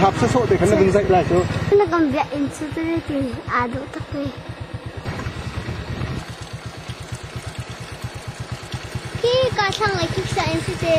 Hapsa sawh te khan na vun zaih lai cu. Na kan biak in cu te ti aa duh tak ni. Hi ka thlang lai kik sa in si te.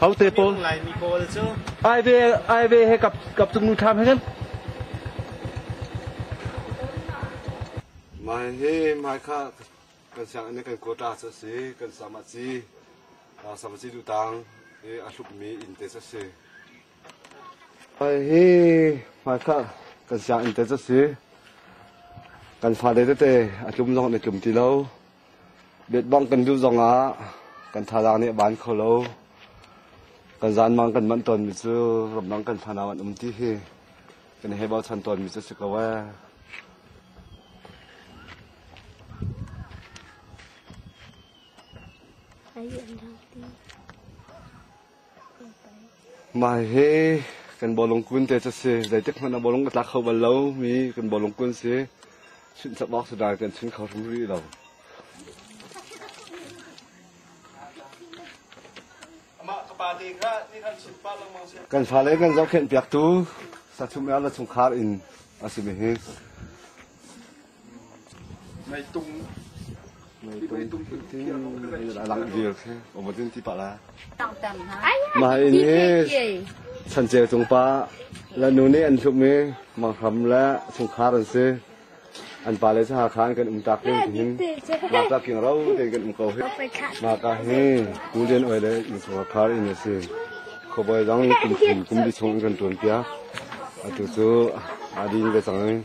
Hote pawl Laimi pawl cu aive aive he kap kap tung nu tham hen. Mai he mai kha kan siang ne kan kota sa si kan sama ci sama ci tu tang e a hlup mi in te sa si. Mai he mai kha kan siang in te sa si kan fa de te a tlum zong ne tlum ti lo. Betbang kan mil zongah kan thazaang nih a ban kho lo. Kan zanmang kan manh tawnmi cu ramdang kan fanau an um ti hi kan he bochan tawnmi cu si ko ee. Ai an lau ti. Mah hi kan bawlung kun te cu si. Zeitik hmanh ah bawlung ka tlak kho bal lo mi kan bawlung kun si. Chunh chap awk si dai kan chunh kho hrim rih lo. Kan fale kan zohkhenh piaktu sachum er le chungkhar in a si mi hi Mah in hi chancer cung pa la nu nih an hlum i manghram le chungkhar an si an pa le sahar khan kan um tak hin tihin ma ka king ro ten kan um ko hi ma ka hi tu lian oi le in chungah khar in a si khoboi dang kum kum kum bi chung in kan tuan pia atu chu adin le chang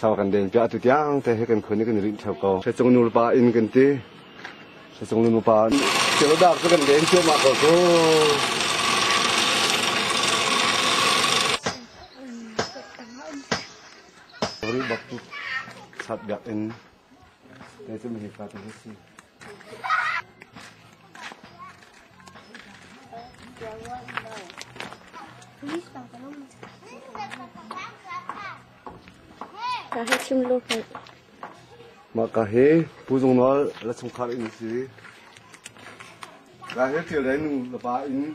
sau kan den piah tu tiang te he kan khon kan rin theo ko se chung nul pa in kan ti se chung nu pa cheu dak to kan den cheu ma ko ko ri bak tu sat dak in te chum hi ka tu si Mah ka hi Pu Zung Nawl la chungkhar in a si. Ka hi thil dai nu la pa in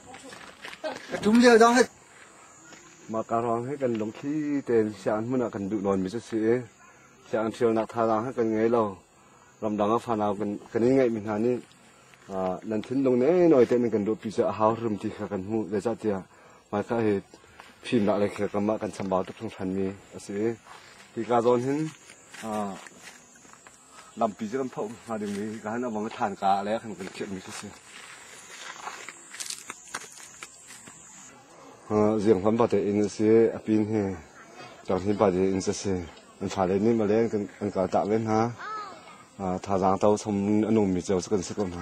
Mahka ruang he kan lungthli tein siang hmun ah kan duh nawnmi cu si i siang ṭhialnak thazaang he kan ngei lo. Ramdang ah fanau kan kan in ngeihmi hna nih nan thinlung nei nawi te nan kan duhpi cu a hau rum ti kha kan hmuh. Zeicahtiah mahka hi fimnak le kha kamah kan chambau tuk hringhranmi a si i hi ka zawn hin lampi cu kan phoh hnga ding mi ka han avang than ka le kan kan khiah mi khi si ziang hlan ba te in si apin hi chang hin ba de in se si an tha le ni ma le kan an ka ta le hna tha zang tau som anum mi cheu kan se ko hna